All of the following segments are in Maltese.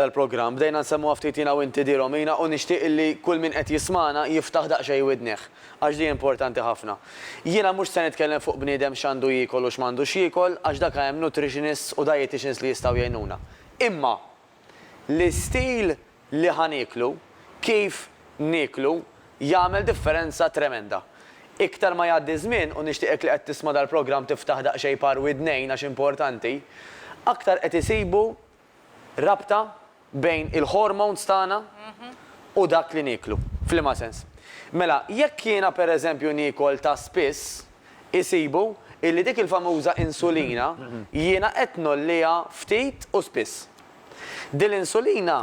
tal-programm. Bdejna nsemmuha ftit jiena u inti di Romina u nixtieq illi kull min qed jismagħna jiftaħ daqsxejn widnih għax di importanti ħafna. Jiena mhux se nitkellem fuq bniedem x'għandu jiekol u x'm'għandux jiekol għax daka hemm nutritionists u dieticians li jistgħu jgħinuna. Imma l-istil li ħa nieklu, kif nieklu jagħmel differenza tremenda. Iktar ma jgħaddi ż-żmien u nixtieqek li qed tisma' dal-programm tiftaħ daqsxejn par widnejn għax importanti, aktar qed isibu Rabta bejn il-hormones tagħna u dak li nieklu. F'liema sens? Mela, jekk jiena pereżempju niekol ta' spiss, isibu illi dik il-famuża insulina jiena qed ngħolliha ftit u spiss. Din l-insulina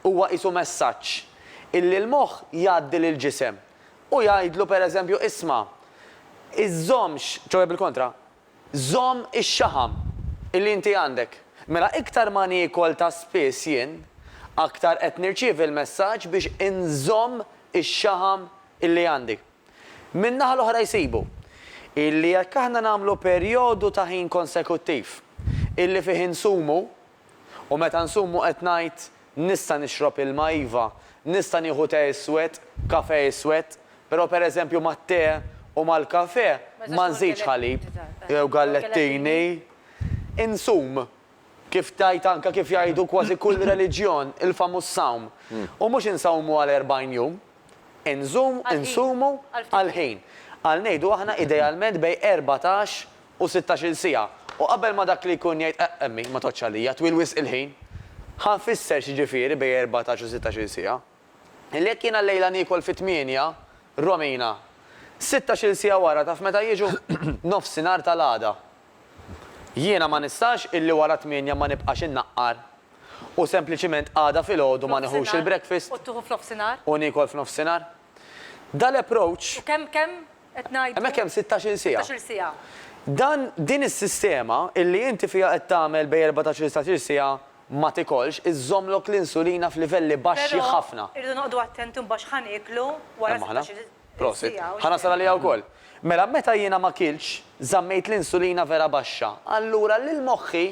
huwa qisu messaġġ illi l-moħħ jgħaddi lill-ġisem u jgħidlu pereżempju isma', iżżommx, ċoe bil-kontra, Żomm ix-xaħam li inti għandek. Mela iktar ma niekol ta' spiss jien, aktar qed nirċievi l-messaġġ biex inżomm ix-xaħam li għandi. Min-naħa l-oħra jsibu, illi jekk aħna nagħmlu perjodu ta' ħin konsekuttiv, illi fih insumu, U meta nsum u qed ngħid, Nista' nixrob ilma, iva, nista' nieħu te iswed, kafè iswed, però pereżempju mat-te u mal-kafè ma nżidx ħalib jew gallettini. Insum, kif tgħid anke kif jgħidu kważi kull reliġjon, il-famuż sawm. U mhux insawmu għal erbgħin jum. Inżum, insumu għall-ħin. Għal ngħidu aħna idealment bejn erbatax u sittax-il siegħa, u qabel ma dak li jkun jgħid eqq emmi, ma tgħoddx għalija, twil wisq il-ħin. Ħa nfisser x'jiġifieri bejn erbatax u sittax-il siegħa. Illi jekk jiena llejla niekol fit-tmienja, Romina, sittax-il siegħa wara taf meta jiġu? Nofsinhar tal-għada. Jiena ma nistax illi wara t-tmienja ma nibqax innaqqar, u sempliċiment għada filgħodu ma nieħux il-breakfast, u niekol f'nofsinhar. Dal-approach. U kemm, kemm, Qed ngħidu. Hemmhekk hemm sittax-il siegħa. Sittax-il siegħa. Dan, din is-sistema illi inti fiha qed tagħmel bejn erbatax-il setax-il siegħa ma tikolx, iżżommlok l-insulina f'livelli baxxi ħafna. Però irridu noqogħdu attenti mbagħad x'ħa nieklu wara sittax-il siegħa. Prosit. Ħa nasal għaliha wkoll. Mela meta jiena ma kiltx, żammejt l-insulina vera baxxa. Allura lil moħħi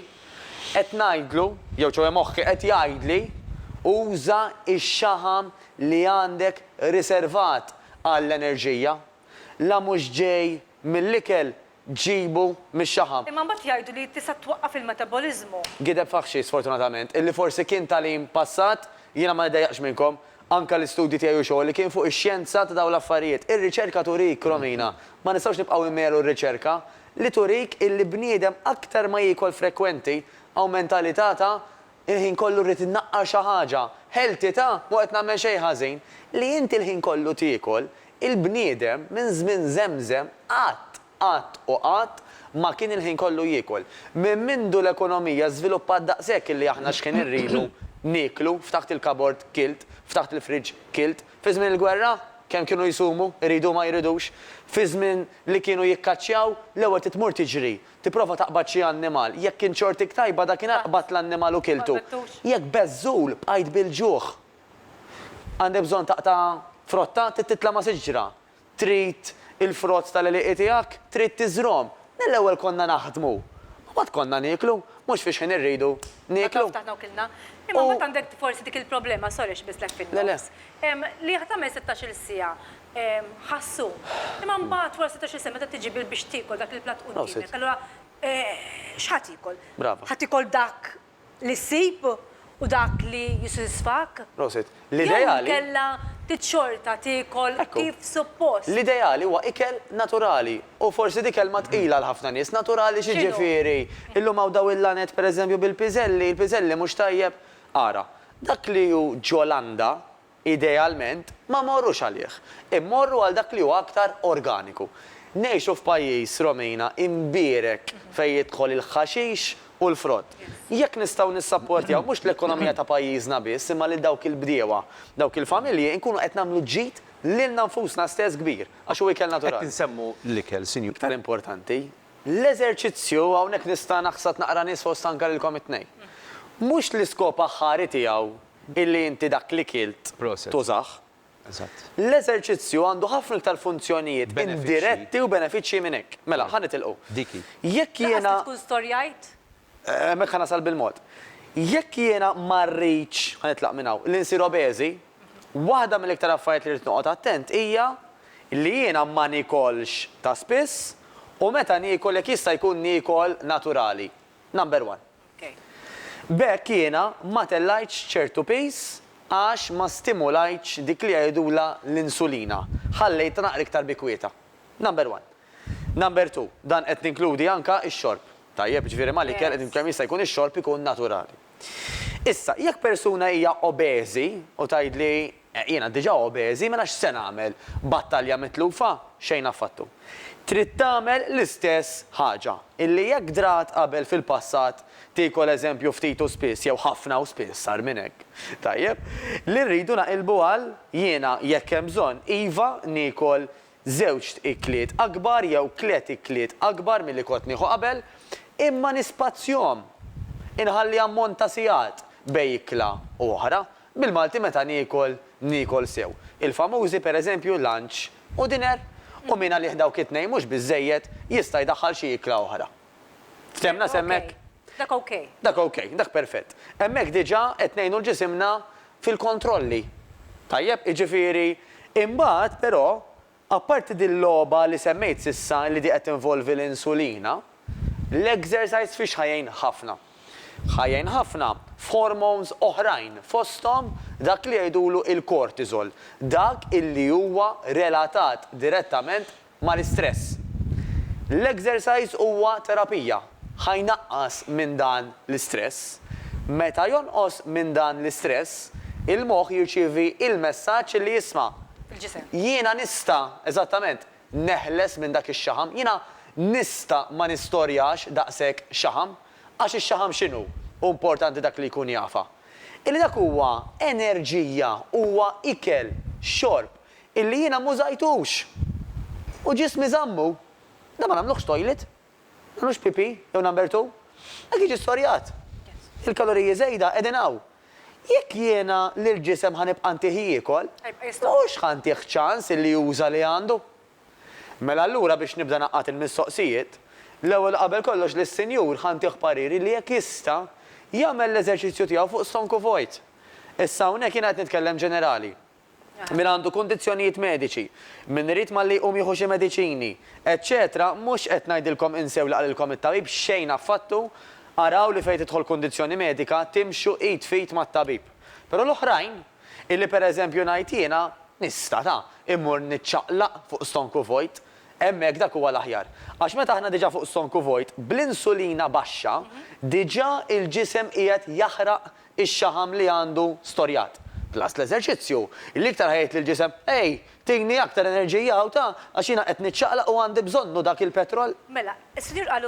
qed ngħidlu, jew ċoe moħħi qed jgħidli, uża x-xaħam li għandek riservat għall-enerġija, la mhux ġej mill-ikel ġibu mix-xaħam. Imma mbagħad jgħidu li tista' twaqqaf il-metaboliżmu. Gideb faħxi sfortunatament, illi forsi kien tagħlim passat, jiena ma niddejjaqx minnkom, anke l-istudji tiegħi u xogħli kien fuq ix-xjenza ta' dawn l-affarijiet. Ir-riċerka turik, Romina, ma nistgħux nibqgħu immelu r-riċerka, li turik illi bniedem aktar ma jiekol frekwenti, awmenta li ta' ta' Il-ħin kollu rrid innaqqar xi ħaġa. Ħeltitha? M'hu qed nagħmel xejn ħażin. Li inti l-ħin kollu tiekol, il-bniedem minn żmien żemżem qatt, qatt u qatt ma kien il-ħin kollu jiekol. Minn mindu l-ekonomija żviluppat daqshekk illi aħna x'ħin irridu nieklu, ftaħt il-kabord kilt, ftaħt il-fridge kilt. Fi żmien il-gwerra? Kemm kienu jsumu, iridu u ma jridux. Fi żmien li kienu jikkaċċjaw, l-ewwel trid tmur tiġri. Tipprova taqbad xi annimal. Jekk kien xortik tajba dakinhar qbadt l-annimal u kiltu. Jekk beżżul, bqajt bil-ġuħ. Għandek bżonn taqta' frotta? Trid titlama siġra? Trid il-frott tal-għelieqi tiegħek? Trid tiżrhom? Le, l-ewwel konna naħdmu. U mbagħad konna nieklu. Mhux fix ħin irridu nieklu. Ftaħna u kilna. Imma mbagħad għandek forsi dik il-problema, sorry xbislek fin-nofs, li jekk tagħmel sittax-il siegħa, ħassu. Imma mbagħad wara setax-il sena meta tiġi bil biex tiekol dak il-platt qudiemek, allura x'ħa tiekol? Brava. Ħa tiekol dak li ssib u dak li jissodisfak? Prosit. L-ideali. Jew inkella trid xorta tiekol kif suppost. L-ideali huwa ikel naturali u forsi di kelma tqila għal ħafna nies. Naturali x'jiġifieri? Illum hawn dawn il-laned pereżempju bil-piżelli, il-piżelli mhux tajjeb. Ara, dak li hu ġo-landa, Idealment, ma mmorrux għalih. Immorru għal dak li huwa aktar organiku. Ngħixu f'pajjiż, Romina, imbierek fejn jidħol il-ħaxix u l-frott. Jekk nistgħu nissapportjaw mhux l-ekonomija ta' pajjiżna biss imma lil dawk il-bdiewa, dawk il-familji, inkunu qed nagħmlu ġid lilna nfusna stess kbir, għax hu ikel naturali. Qed insemmu l-ikel, Sinjura. Iktar importanti, l-eżerċizzju, hawnhekk nista' naħsad naqra nies fost anke lilkom it-tnejn. Mhux l-iskop aħħari tiegħu illi inti dak li kilt tużah. L-eżerċizzju għandu ħafna iktar funzjonijiet indiretti u benefiċċji minn hekk. Mela, ħa nitilqu. Jekk jiena. Laqas li tkun storjajt. Hemmhekk ħa nasal bil-mod. Jekk jiena ma rridx, ħa nitlaq minn hawn, li nsir obeżi, waħda mill-iktar affarijiet li rrid noqgħod attent hija li jiena ma niekolx ta' spiss u meta niekol jekk jista' jkun niekol naturali. Number one. B'hekk jiena ma tellgħitx ċertu piż għax ma stimulajtx dik li jgħidulha l-insulina, ħallejtha naqra iktar bi kwieta. Number one. Number two, dan qed ninkludi anke x-xorb. Tajjeb, jiġifieri mal-ikel qed kemm jista' jkun ix-xorb ikun naturali. Issa, jekk persuna hija obeżi u tgħidli Jiena diġà obeżi, mela x'se nagħmel? Battalja mitlufa? Xejn affattu. Trid tagħmel l-istess ħaġa. Illi jekk drat qabel fil-passat, tiekol eżempju ftit u spiss jew ħafna u spiss sar minn hekk. Tajjeb. Li rridu naqilbu għal, jiena, jekk hemm bżonn, iva, niekol żewġt ikliet akbar jew tliet ikliet akbar milli kont nieħu qabel, imma nispazzjhom. Inħalli ammont ta' sigħat bejn ikla u oħra. Bil-Malti meta niekol, niekol sew. Il-famużi, per eżempju, lunch u dinner. U min għalih dawk it-tnejn mhux biżżejjed, jista' jdaħħal xi ikla oħra. Ftehmna s'hemmhekk? Dak okej. Dak okej, dak perfett. Hemmhekk diġà qed ngħinu 'l ġisimna fil-kontrolli. Tajjeb? Jiġifieri, imbagħad però, apparti din l-logħba li semmejt s'issa li di qed tinvolvi l-insulina, l-exercise fiex ħa jgħin ħafna? Ħa jgħin ħafna f'hormones oħrajn fosthom dak li jgħidulu il-cortisol, dak illi huwa relatat direttament mal-istress. L-exercise huwa terapija, ħa jnaqqas minn dan l-istress. Meta jonqos minn dan l-istress, il-moħħ jirċievi il-messaġġ li jisma', Il-ġisem. Jiena nista', eżattament, neħles minn dak ix-xaħam. Jiena nista' ma nistorjax daqshekk xaħam. Għax ix-xaħam x'inhu? Hu importanti dak li jkun jafha. Illi dak huwa enerġija, huwa ikel, xorb, Illi jiena m'użajtux. U ġismi żammu. Dan ma nagħmluhx toilet. Ma nagħmlux pipì jew number two. Hekk jiġi storjat. Il-kaloriji żejda qegħdin hawn. Jekk jiena lill-ġisem ħa nibqa' ntih jiekol, mhux ħa ntih ċans illi juża li għandu. Mela allura biex nibda ngħaqqad il-mistoqsijiet, l-ewwel u qabel kollox lis-Sinjur ħa ntih pariri li jekk jista' jagħmel l-eżerċizzju tiegħu fuq stonku vojt. Issa hawnhekk jiena qed nitkellem ġenerali. min għandu kundizzjonijiet mediċi, min irid malli jqum jieħu xi mediċini, eċċetera Mhux qed ngħidilkom insew li qalilkom it-tabib, xejn affattu, araw li fejn tidħol kundizzjoni medika timxu id f'id mat-tabib. Però l-oħrajn, illi pereżempju ngħid jiena, nista', ta', immur niċċaqlaq fuq stonku vojt, hemmhekk dak huwa l-aħjar. Għax meta aħna diġà fuq stonku vojt, bl-insulina baxxa, diġà il-ġisem qiegħed jaħraq ix-xaħam li għandu storjat. Plus l-eżerċizzju, li iktar ħa jgħid lill-ġisem, Ej, tini aktar enerġija u ta, għax jiena qed niċċaqlaq u għandi bżonnu dak il-petrol. Mela, is-Sinjur qal